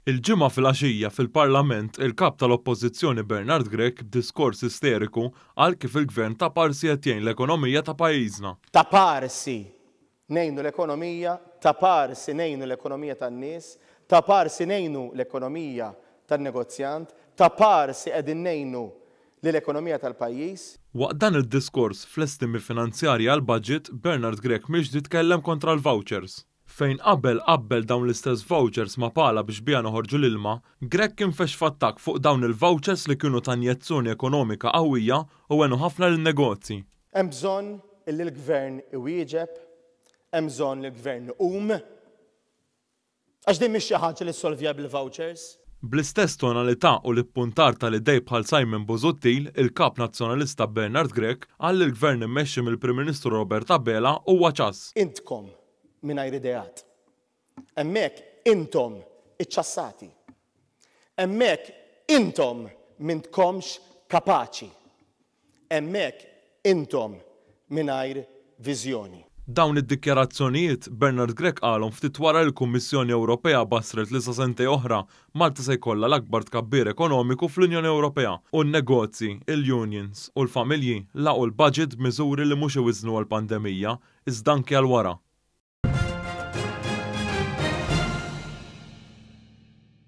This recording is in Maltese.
Il-Ġimgħa filgħaxija fil-Parlament il-Kap tal-Oppożizzjoni Bernard Grech b'diskors isteriku qal kif il-Gvern ta' parsi qed jgħin l-ekonomija ta' pajjiżna. Ta' parsi ngħinu l-ekonomija, ta' parsi ngħinu l-ekonomija tan-nies, ta' parsi ngħinu l-ekonomija tan-negozjant, ta' parsi qegħdin ngħinu lil ekonomija tal-pajjiż. Waqt dan id-diskors fl-estimi finanzjarji għall-budget, Bernard Grech miexdi tkellem kontra l-vouchers. Fejn qabel qabbel dawn l-istess vouchers ma' pala biex biha noħorġu l-ilma, Grech kien fex f'attakk fuq dawn il-vouchers li kienu ta' injezzjoni ekonomika qawwija u għenu ħafna lin-negozji. Hemm bżonn illi l-Gvern iwieġeb, hemm bżonn li l-Gvern iqum. Għax din mhix xi ħaġa li ssolvja bil-vouchers. Bl-istess tonalità u l-ippuntar tal-idej bħal Simon Busuttil, il-Kap Nazzjonalista Bernard Grech qal li l-Gvern immexxi mill-Prim Ministru Robert Abela huwa ċass. Intkom mingħajr ideat. Hemmhekk intom iċċassati. Hemmhekk intom m'intkomx kapaċi. Hemmhekk intom mingħajr viżjoni. Dawn id-dikjarazzjonijiet, Bernard Grech qalhom ftit wara li l-Kummissjoni Ewropea bassret li sa sentejn oħra, Malta se jkollha l-akbar tkabbir ekonomiku fl-Unjoni Ewropea u n-negozji, il-unions u l-familji lagħqu l-budget b'miżuri li mhux iwiżżnu għall-pandemija, iżda anki għal wara.